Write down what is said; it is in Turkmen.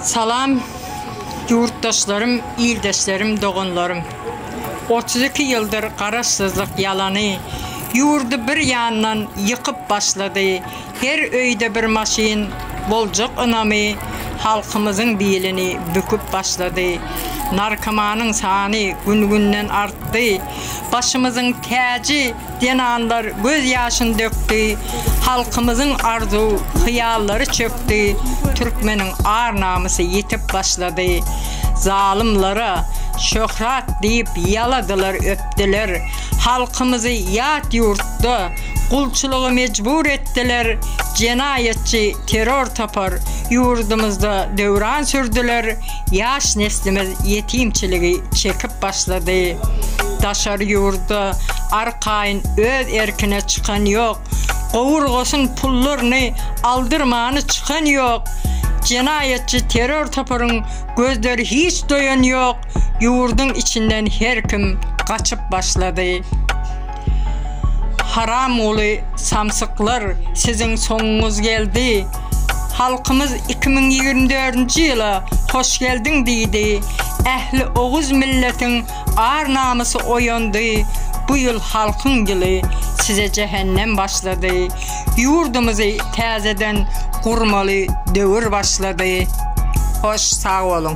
Salam ýurtdaşlarym ildeşlerim doganlarym otuz iki ýyldyr garaşsyzlyk ýalany ýurdy bir ýandan ýykyp başlady her öýde bir maşyn boljak ynamy halkymyzyň bilini büküp başlady narkomanyň sany gün günden artdy başymyzyň täji Zenanlar göz ýaşyn dökdi, Halkymyzyň arzuw, hyýallary çökdi, Türkmeniň ar namysy ýitip başlady. Zalymlara şöhrat diýip ýaladylar öpdiler, Halkymyzy ýat ýurtda gulçulyga mejbur etdiler, Jenaýatçy terror topar ýurdumyzda döwran sürdüler, Ýaş neslimiz ýetimçiligi çekip başlady. Daşary ýurda arkaýyn öz erkine çykan ýok. Gowurgasyn pullaryny aldyrmany çykan ýok. Jenaýatçy terror toparyň gözleri hiç doýan ýok. Ýurduň içinden her kim gaçyp başlady. Haramguly samsyklar siziň soňuňyz geldi halkymyz iki müň ýigrimi dördünji ýyla hoş geldiň diýdi ähli oguz milletiň ar namysy oýandy bu ýyl halkyň ýyly size jähennem başlady ýurdumyzy täzeden gurmaly döwür başlady hoş sag boluň.